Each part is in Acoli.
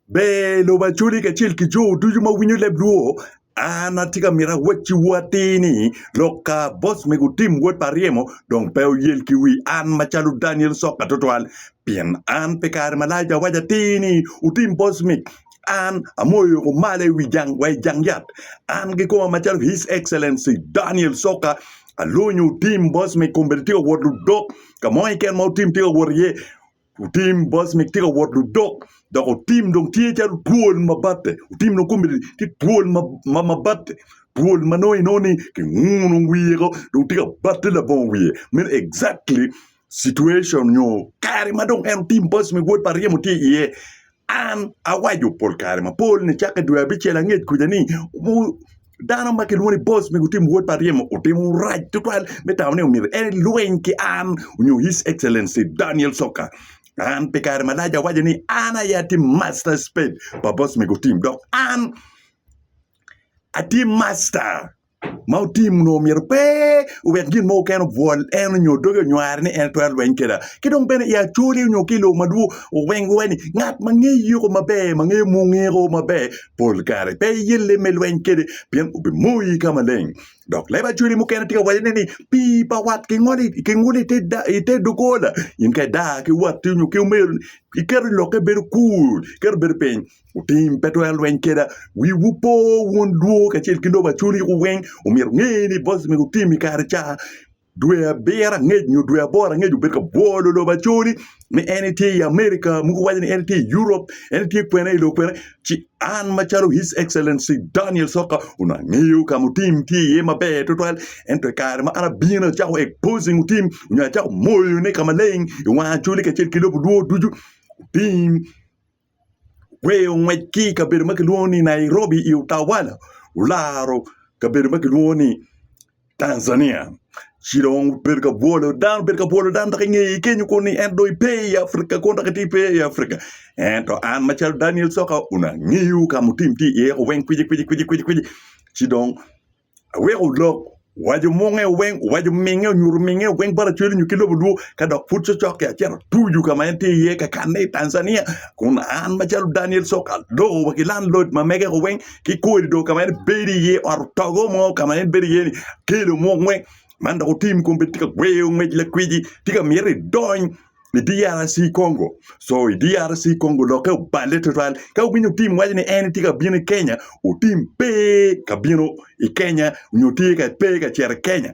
Ber lobo Acholi kacel ki jo ducu ma winyo leb Luo, an atye ka mito awacciwu atir ni lok ka boss mego Tim Wod pa Aryemo dong pe oyel ki wi an macalo Daniel Soka tutwal pien an pi kare malac awaco atir ni otim boss mig an amoyo kumalo i wi jang wa i jang yat an ki koma macalo His Excellency Daniel Soka alonyo otim boss mig kun bene tye ka wot ludok ka mo keken ma otim tye ka wot iye Otim Bosnic tye ka wot ludok dok otim dong tye calo twol ma batte. Otim dong kome tye twol ma ma ma batte. Twol ma nongo inongo ni kinguno wiye ko dong tye ka batte labongo wiye. Meno exactly situation nyo kare ma dong en otim Bosnic wod pa ryemo tye iye. An awaco pol kare mapol ni cakke dwe abicel angec kuca ni dano ma kilwongo ni boss me gutim wod pa ryemo otimo rac tutwal me tamo ni omyero elweny ki an nyo His Excellency Daniel Soka. An pi kare malac awaco ni an aye atye master spade pa boss me gutim dok an atye master ma otim onongo myero pe owek gin mo keken obwol en onyo doge onywar ni en twero lweny keda ki dong bene i acoli onyo ki lobo madwor oweng wa ni ngat ma nge yiko maber ma nge mungiko maber pol kare pe yelle me lweny kede pien obi moyi ka maleng dok leb acoli mukene tye ka waco ne ni pi pa wat ki ngoli ki nguli i te dogola in ka ida ki watti onyo ki omeri ni iketo lokke bedo kur iketo bedo piny Otim pe twero lweny keda. Wiwu po wun dwo kacel ki lobo acoliku weng. Omyero nge ni boss me otim i kare ca dwe abiro angec nyo dwe aboro angec obed ka bwolo lobo acoli ni en itye i America muku waco ni en itye i Europe en itye kwene i lobo kwene ci an macalo his excellency Daniel Soka onongo angeyo kama otim tye iye maber tutwal ento i kare ma an abino acako exposing otim onyo acako moyone kamaleng i wang acoli kacel ki lobo dwo ducu otim gweyo ngwec ki i kabedo ma kilwongo ni Nairobi i Utawala olaro kabedo ma kilwongo ni Tanzania. Ci dong obedo ka bwolo dano obedo ka bwolo dano dok i ngeye kenyo kunu ni en dong ipe i Afrika kun dok itye ipe i Afrika. Ento an macalo Daniel Coka onongo angeyo ka mutim tye iye weng kwicikwici kwicikwici ci dong Aweko olok waco munge weng, owaco minge, onyuto minge weng bot acweli nyo ki lobo luo ka dok pud cocok-ki acito atuju ka ma en tye iye ka kanne i Tanzania kun an macalo Daniel Soka aloko wa ki landlord ma mege-gu weng ki korido ka ma en bedo iye ot otogo mo ka ma en bedo iye-ni akelo mung weng man dok otim kun bene tye ka gweyo ngwec lakweci tye ka miti idony i DRC Congo. So i DRC Congo lokke oballe tutwal ka wubinyo tim waco ni en tye ka bino i Kenya, otim pe ka bino i Kenya nyo tye ka pe ka cito i Kenya.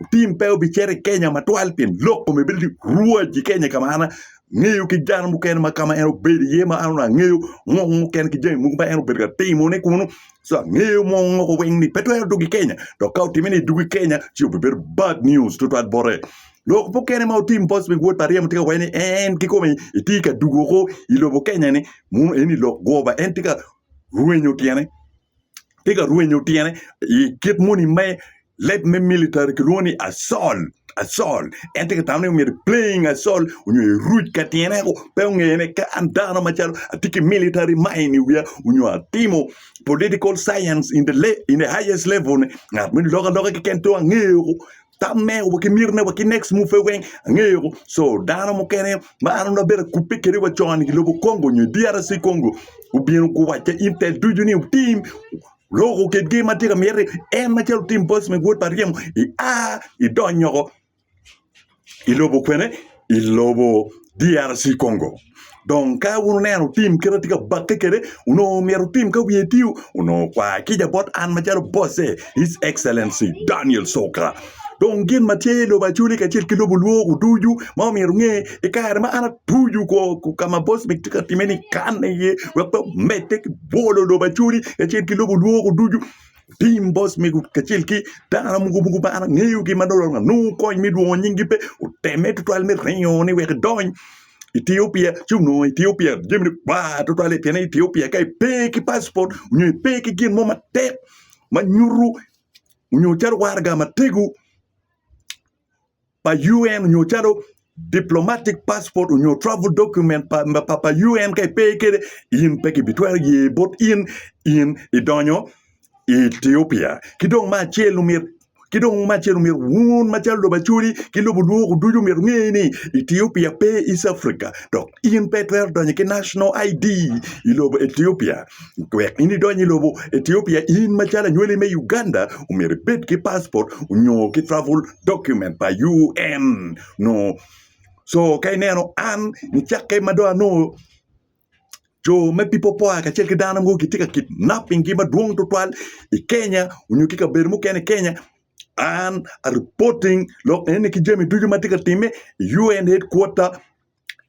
Otim pe obicito i Kenya matwal pien lok kome bedo ni rwac i Kenya ka ma an angeyo ki dano mukene ma ka ma en obedo iye ma an onongo angeyo ngok mukene ki jami mogo ma en obedo ka timone kunu. So angeyo mwong ngoko weng ni pe twero dwogo i Kenya dok ka otime ni dwogo i Kenya ci obibedo bad news tutwal bote. Lok mukene ma otim post pi wod pa ryemo tye ka waco ni en kikome etye ka dugo oko i lobo Kenya ni munu en i lok goba en tye ka rwenyo tyene tye ka rwenyo tyene i kit moni me leb me military kilwongo ni asol asol en tye ka tamo ni myero playing asol onyo eruc ka tyene eko pe ongeye ni ka an dano macalo atye ki military mind i wiya onyo atimo political science in the, le- in the highest level ni ngat moni lok aloka keken to angeye oko tam me wa ki myero me wa ki next move pe weng angeyo so dano mukene ma an onongo abedo akubbe kede wa con i lobo Congo onyo i DRC Congo gubino guwac ki intel ducu ni otim loko kedgi matye ka miti en macalo otim boss me wod pa ryemo i a idonyo i lobo kwene i lobo DRC Congo. Dong ka wun wuneno tim kit atye ka bakke kede, onongo myero tim ka wiye tiu, onongo kwa kica bot an macalo bosse, His Excellency Daniel Soka. Dong gin ma tye i lobo Acholi kacel ki lobo Lwok oducu ma omyero nge i kare ma an atucu ko ka ma boss me tye ka time ni kanne iye wek pe omedde ki bwolo lobo Acholi kacel ki lobo Lwok oducu. tim boss mego kacel ki dano mogo mogo ma an angeyogi ma dong anongo kony me lwongo nyinggi pe oteme tutwal me ringo ni wek idony Ethiopia ci onongo Ethiopia jamine bar tutwal pien i Ethiopia ka ipe ki paspot nyo ipe ki gin mo matek ma nyuto nyo calo waraga matego pa UN nyo calo diplomatic passport nyo travel document pa pa, pa UN ka ipe kede in pe kibitwero ye bot in in idonyo i Ethiopia ki dong ma acel omyet ki dong ma acel omyet wun macalo lobo acoli ki lobo lwoko ducu myet ngeye ni Ethiopia pe East Africa dok in pe twero donyo ki national ID i lobo Ethiopia wek in idonyo i lobo Ethiopia in macalo anywali me Uganda omyet ibed ki passport onyo ki travel document pa UN nongo co ka ineno an nicakke ma dong anongo co me People Power kacel ki dano mogo gitye ka kidnapping gi madwong tutwal i Kenya onyo ki kabedo mukene i Kenya an a reporting lok eni ki jami ducu ma tye ka timme i UN headquarter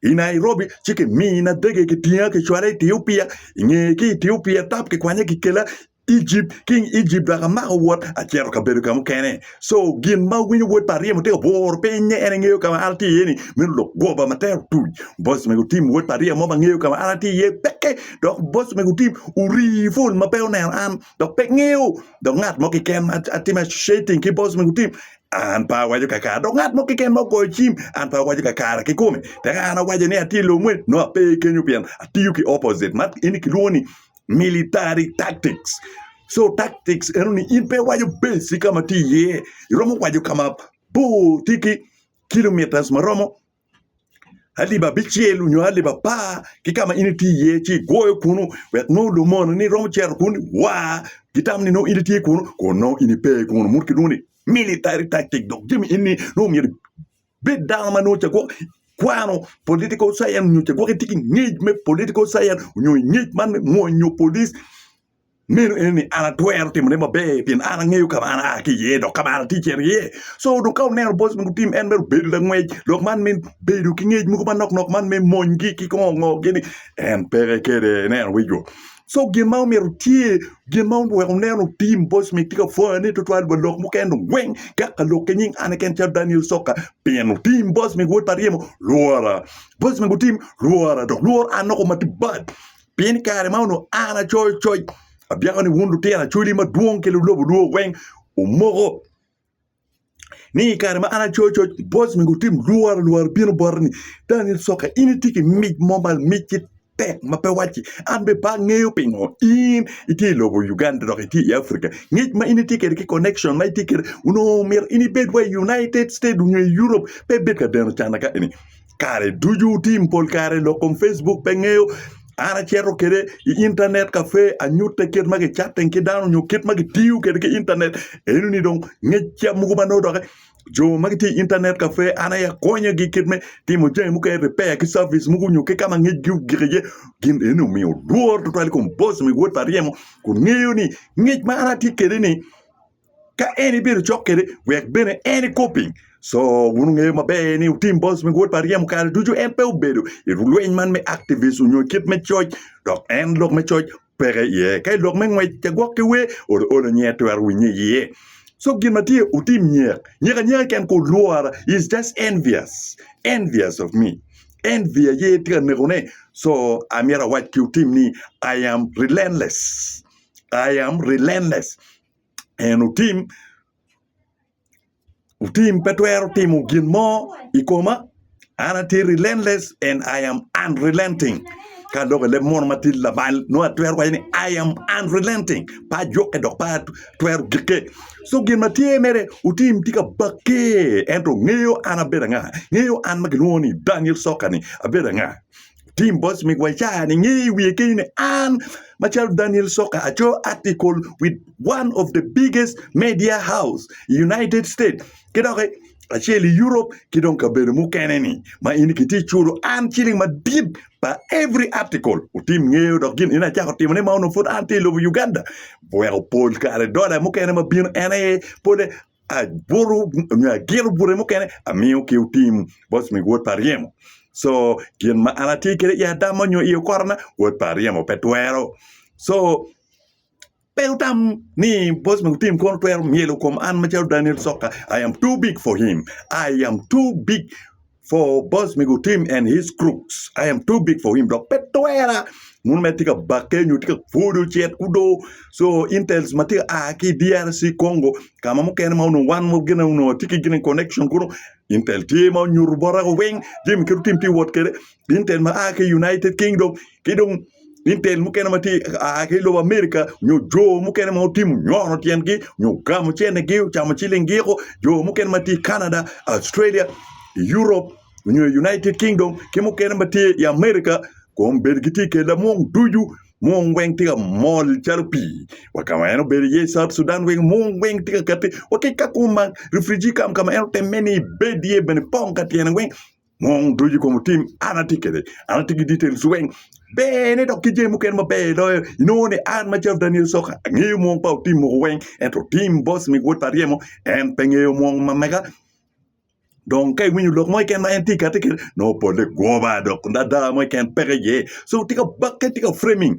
i Nairobi ci kimina dege kitinga kicwala i Etiopia i ngeye ki Etiopia tap kikwanya kikela Egypt king Egypt dok amako wot acito ka bedo ka mukene so gin ma winyo wod pa ryemo tye ka bworo pinye en engeyo ka ma an atye iye ni meno lok goba ma tero tuc boss mego tim wod pa ryemo ma ngeyo ka ma an atye iye peke dok boss mego tim ori full ma pe oneno an dok pe ngeyo dok ngat mo keken ma atime associating ki boss mego tim An pe awaco kakare, dok ngat mo keken ma ogoyo cim, an pe awaco kakare kikome. Tek an awaco ni atye i lobo moni, nongo ape kenyo pien atiyo ki opposite, man eni kilwongo ni military tactics. So tactics eno ni in pe iwaco base ka ma tye iye, iromo waco ka mabor tye ki kilometres maromo alip abicel nyo alip apar ki ka ma in itye iye ci igwoyo kunu wek nongo lumononi romo cito kunu i war ki tam ni nongo in itye kunu kun nongo in ipe kunu mono kilwongo ni military tactic dok jami eni nongo myero ibed dano ma nongo ca gwok ikwano political science nyo ca gwok itye ki ngec me political science nyo ngec man me mwonyo polic. Meno en ni an atwero timo ne maber pien an angeyo ka ma an aa ki iye dok ka ma an atye cito iye. Co dong ka wuneno boc mogo gutim en mere obedo langwec dok man me bedo ki ngec mogo manok nok man me monygi ki kongo ngo gini en peke kede ineno wecgo. Co gin ma omyero tye gin ma oweko wunen otim boc mi tye ka pwonyo ne twatwal wa lok mukene dong weng ka ka lok ki nying an keken calo Daniel Soka pien otim boc mi wod pa ryemo lwora boc mi gutim lwora dok lwor an noko matye bad Pien i kare ma onongo an acoyo coc, abyako ni wun lutino acoli madwong ki lulobo lwor weng wumoko ni i kare ma an acoyo coc, boc mego otim lworo lworo bino bota ni dani Lucoka in itye ki mic mo ma mic ki tek ma pe wacci. An bene pe angeyo pingo in itye i lobo Uganda dok itye i Africa. Ngec ma in itye kwede ki connection ma itye kwede onongo myero in ibed wa i United States nyo i Europe pe ibed ka deno cana ka eni. kare ducu tim pol kare lok kom Facebook pe ngeyo an acito kwede i intanet kafe anyutte kit ma kicatten ki dano nyo kit ma kitiyo kwede ki intanet eno ni dong ngecca mogo ma nongo doki jo ma gitye i intanet kafe an aye akonyogi kit me timo jami mukene ripeya ki cabic mogo nyo ki ka ma ngecgi ogik iye gin eni omiyo lworo tutwal i kom boc me wod pa ryemo kun ngeyo ni ngec ma an atye kwede-ni ka en ibedo cok kwede wek bene en ikob piny. So wun wungeyo maber ni Tim Boz ma giwod pa ryemo kare ducu en pe obedo i lweny man me activist onyo kit me coc dok en lok me coc peke iye. Ka i lok me ngwec cagwok ki wer olo olo nyi en twero winye iye. So gin ma tye otim nyek, nyek anyeka keken ko lwora is just envious, envious of me. Envy aye tye ka nekone. So amyero awac ki otim ni I am relentless. I am relentless. en otim otim pe twero timo gin mo i koma an atye relentless and I am unrelenting ka adok i leb mono ma tye lamal nongo atwero waco ni I am unrelenting pe ajukke dok pe atwero gikke so gin ma tye mere otim tye ka bakke ento ngeyo an abedo anga ngeyo an ma kilwongo ni Daniel Sokka-ni abedo anga Tim boc mi Guacara ni nge i wiye kenyo ni an macalo Daniel Soka aco article with one of the biggest media house i United States ki dok acel i Europe ki dong kabedo mukene ni ma in kitye culo an ciling madit pa every article otim ngeyo dok gin in acako timo ni ma onongo pud an tye i lobo Uganda weko pol kare dola mukene ma bino en aye pole aburu nyo agiro bute mukene amiyo ki otim bot mi wod pa aryemo so gin ma an atye kede i adama nyo i okora-na wod pa aryemo pe twero so pe wutam ni bot mi otim kono twero myelo kom an macalo Daniel Sokka I am too big for him I am too big For boss me gutim and his crooks I am too big for him dok pe twera muno mere tye ka bakke nyo tye ka pwodo cet kudo so intels ma tye ka a ki DRC Congo ka ma mukene ma onongo wan mo gine onongo tye ki gine connection kuno intel tye ma onyuto bota weng jami kit otim tye wot kwede intel ma a ki United Kingdom ki dong intel mukene ma tye aa ki lobo Amerika nyo jo mukene ma otimo nyono tyengi nyo ogamo cenigi ocamo cilinggiko jo mukene ma tye i Canada, Australia, Europe nyo i United Kingdom ki mukene ma tye i Amerika kom bedo gitye i kella mung ducu mung weng tye ka mol calo pii wa ka ma en obedo iye i South Sudan weng mung weng tye ka kati wa ki ka kung ma refriji kam ka ma en otemme ni ibed iye bene pong ka tyene weng Mung ducu i kom tim an atye kwede, an atye ki details weng. Ber ni dok ki jami mukene maber loyo, inongo ni an macalo Daniel Soka angeyo mung pa otim mogo weng, ento Tim Boss mi wod pa ryemo en pe ngeyo mung ma mega. Dong ka iwinyo lok mo keken ma en tye kati kede, nongo polle gwoba dok ada mo keken peke iye. So tye ka bakke, tye ka framing.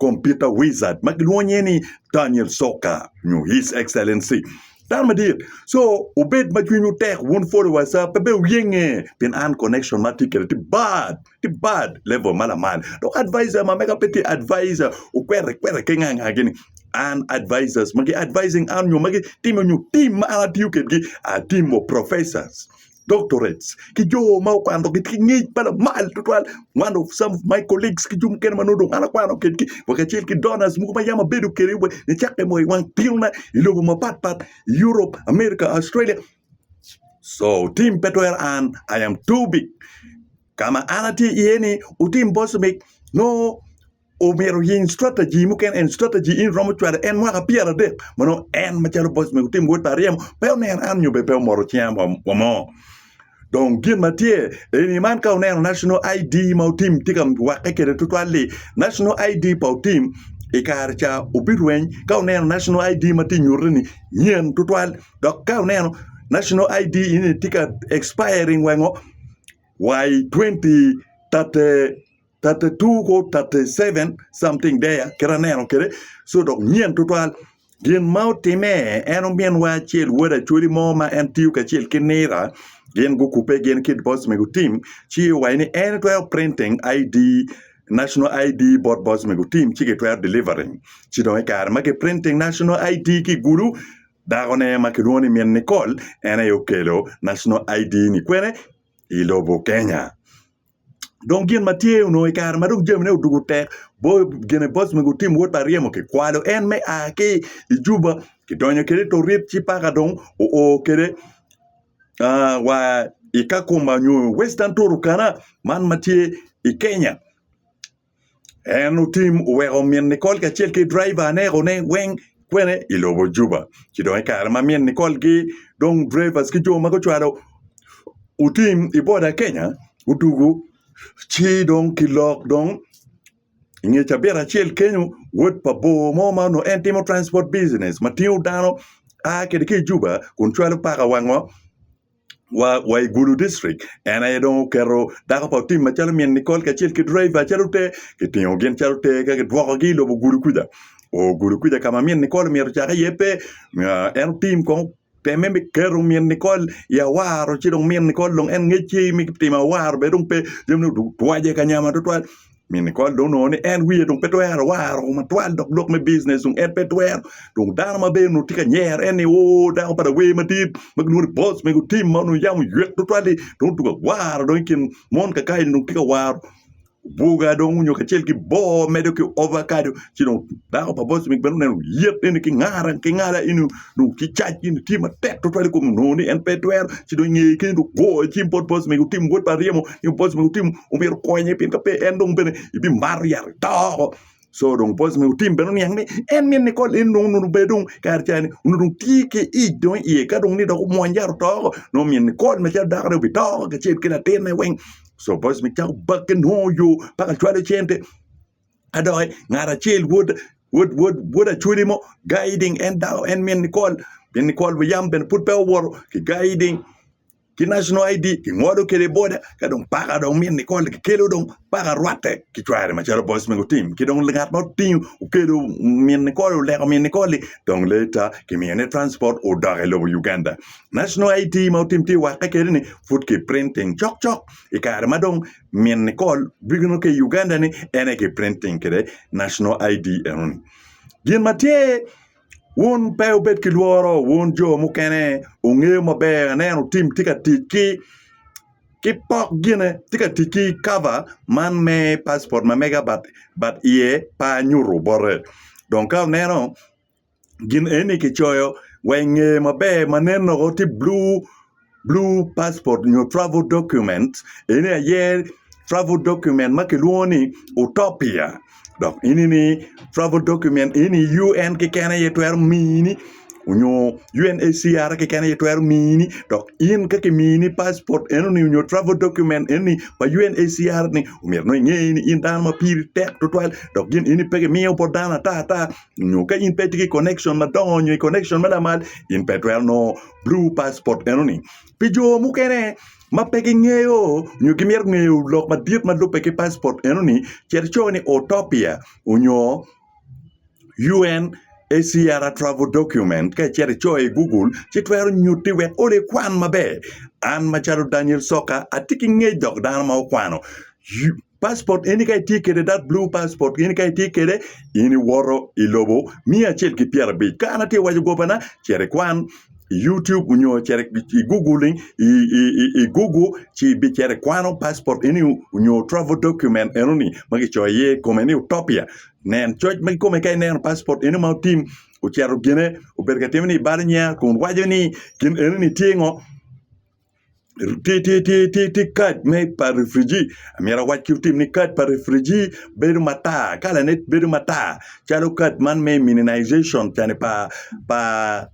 computer wizard ma gilwongo nyinge ni Daniel Soka nyo His Excellency. Dano madit. So, obed ma cwinywu tek wun followers a, pe be wuyenge pien an connection ma atye kwede tye bad, tye bad level ma lamal. Dok advisor ma mega pe tye advisor okwere kwere ki nga nga gini. An advisors ma gi advising an nyo ma gitimo nyo team ma an atiyo kedgi, I team of professors. doctorates, ki jo ma okwano gitye ki ngec ma lamal tutwal. One of some of my colleagues ki jo mukene ma nongo dong an akwano kedgi wa kacel ki donors mogo ma yam abedo kede wa nicakke mo i wang tinona i lobo mapat pat Europe, America, Australia. So tim pe twero an I am too big. Ka ma an atye iye ni otim bocmic nongo omyero oyiny strategy mukene en strategy in iromo cwale en mwaka pyeradek ma nongo en macalo boc mego timo wod pa aryemo pe oneno an nyo bene pe omoto cinga wa mo dong gin ma tye eni man ka wuneno national ID ma Otim tye ka wakke kwede tutwal-li national ID pa Otim i kare ca obirweny ka wuneno national ID ma tye ka nyutte-ni nyen tutwal dok ka wuneno national ID eni tye ka expiring weng-o wa i twenty thirty thirty two kor thirty seven something there kit aneno kwede so dok nyen tutwal gin ma otime en ominwa acel wod acwali mo ma en tiyo kacel ki nira gin gukubbe gin ki boss mego tim ci owaco ni en twero printing ID national ID bot boss mego tim ci kitwero delivering ci dong i kare ma ki printing national ID ki i gulu dakone ma kilwongo ni min Nicole en aye okelo national ID ni kwene i lobo Kenya. dong gin ma tye onongo i kare ma dong jamine odwogo tek bot gine bot ma gutim wot pa ryemo kikwalo en me a ki i juba kidonyo kwede i torit ci paka dong oo kwede wa i Kakuma nyo Western Turkana man ma tye i Kenya. En otim oweko min Nicole kacel ki driver anekone weng kwene i lobo Juba. Ci dong i kare ma min Nicole ki dong drivers ki jo ma gucwalo otim i boda Kenya odugu ci dong kilok dong i nge cabit acel kenyo wod pa bor mo ma onongo en timo transport business ma tingo dano a kwede ki i Juba kun cwalo paka wa ngo wa i Gulu district en aye dong oketo dako pa Otim macalo min Nicole kacel ki driver calo te kitingo gin calo te ka kidwoko gi i lobo Gulu kuca oo Gulu kuca ka ma min Nicole omyero ocak iye pe en Otim kong oteme me keto min Nicole i awaro ci dong min Nicole dong en ngec ci me timo awaro bene dong pe jamine odwogo twace kanya ma twatwal Mini kony dong onongo ni en wiye dong pe twero waro matwal dok lok me bijinec dong en pe twero. Dong dano ma bene onongo tye ka nyero en ni, Oo, dako pa lawer madit ma gilwongo ni boss mego tim ma onongo yam oywek tutwal-li dong otugo awara dong i kin mon kakayi-ni dong tye ka waro buga dong onyo kacel ki boo medo ki ovakado ci dong dako pa boss mego bene oneno lyet eni ki ngara ki ngala eni dong ki cac gin tye matek tutwal i kome onongo ni en pe twero ci dong ingeye kenyo dong ogo ci bot boc mege otim wod pa ryemo nyo boc mege otim omyero okonye pien ka pe en dong bene ibimato yat ito oko so dong boc mege otim bene oniang ni en mine nikol en dong onongo bene dong kare ca ni onongo dong tye ki ic dong iye ka dong ni dok omwony yat oto oko nongo omyero nikol macalo dakone obito oko kacel ki latinne weng so boc mege cako bakke nongo yo paka cwalo cente ka dok ngat acel wod achwodi mo guiding en dako en min nikol min nikol buyam bene pud peya owoto ki guiding ki national ID kingolo kwede boda ka dong paka dong min nikol kikelo dong paka rwatte ki cware macalo boss mego tim ki dong ngat ma otingo okelo min nikol oleko min nikol-li dong leta kimiyone transport odok i lobo Uganda national ID ma otim tye wakke kwede-ni pud kiprinting cokcok i kare ma dong Min Nicole bino ki i Uganda ni en aye ki printing kede national ID eno ni. Gin ma tye, wun pe wubed ki lworo, wun jo mukene wungeyo maber, aneno tim tye ka tic ki ki pok gine, tye ka tic ki cover man me passport ma mega but but iye pe anyutu bote. Dong ka wuneno gin eni kicoyo wa i ngeye maber ma nen woko tye blue passport nyo travel document eni aye travel document ma kilwongo ni utopia dok enini travel document eni UN keken aye twero mini nyo UNHCR keken aye twero mini dok in ka kimini passport enoni nyo travel document enoni pa UNHCR ni myero nongo inge ni in dano ma piri tek tutwal dok gin eni pe kimiyo bot dano ata ata nyo ka in pe itye ki connection madongo nyo i connection me lamal in pe itwero nongo blue passport enoni. Pi jo mukene ma pe gingeyo nyo gimito ngeyo lok madit ma lubbe ki passport enoni, cet ico ni Autopia nyo UNHCR travel document ka icito icoyo i Google ci twero nyutti wek olo ikwan maber. An macalo Daniel Soka atye ki ngec dok dano ma okwano passport eni ka itye kede that blue passport eni ka itye kede in iwoto i lobo miya acel ki pyera abic ka an atye waco gobana ceri kwan i youtube onyo ceri i google i google ci bi ceri kwano passport eni onyo travel document eno ni ma kicoyo iye kome ni utopia nen coc ma kikome ka ineno passport eno ma otim ocito gine obedo ka timo ni ibalo nyea kun waco ni gin eno ni tye ngo ti kad me pa refriji myero awac ki lutim ni kad pa refriji bedo matar kalane bedo matar calo kad man me immunization cani pa pa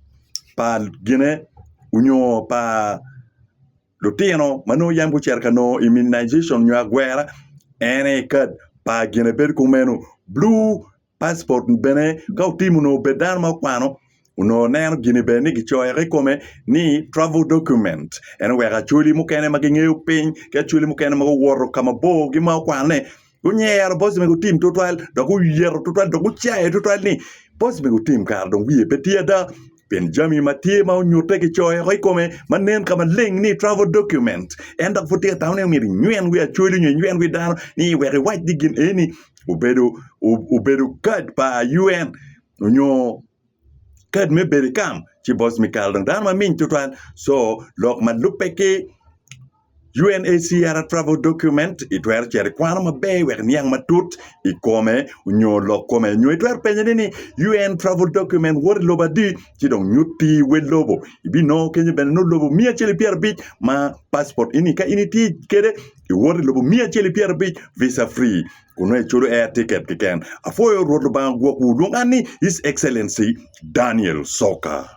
pa gine onyo pa lutino ma nongo yam gucito ka nongo immunization nyo agwera en aye kad pa gine bedo kumeno bulu Passport bene ka otimo onongo obed dano ma okwano onongo neno gini bene ni kicoyo ki kome ni travel document ene wek acholi mukene ma gingeyo piny ki acholi mukene ma guwoto ka mabor ki ma okwano ni gunyero boss mego otim tutwal dok oyeto tutwal dok ocayo tutwal ni boss mego otim kara dong wiye pe tye ada pien jami ma tye ma onyutte kicoyo i kome ma nen ka maleng ni travel document. En dok pud tye ka tamo ni omyero inywen wi acoli nyo inywen wi dano ni wek iwac ni gin eni obedo obedo kad pa UN nyo kad me bedo i kam ci boss mi kal dong dano maming tutwal so lok ma lubbe ki UNHCR Travel Document, Itwero cito ikwano maber wek iniang matut i kome nyo lok kome. Nyo itwero penye ni ni UN Travel Document woto i lobo adi ci dong nyut pi wel lobo. Ibinongo kenyo bene nongo lobo miya acel i pyerabic ma passport ini ka in itye kede iwoto i lobo miya acel i pyerabic visa free kun nongo iculo air ticket kiken. Apwoyo Rwot Lubanga gwokwu lwong an ni His Excellency Daniel Soka.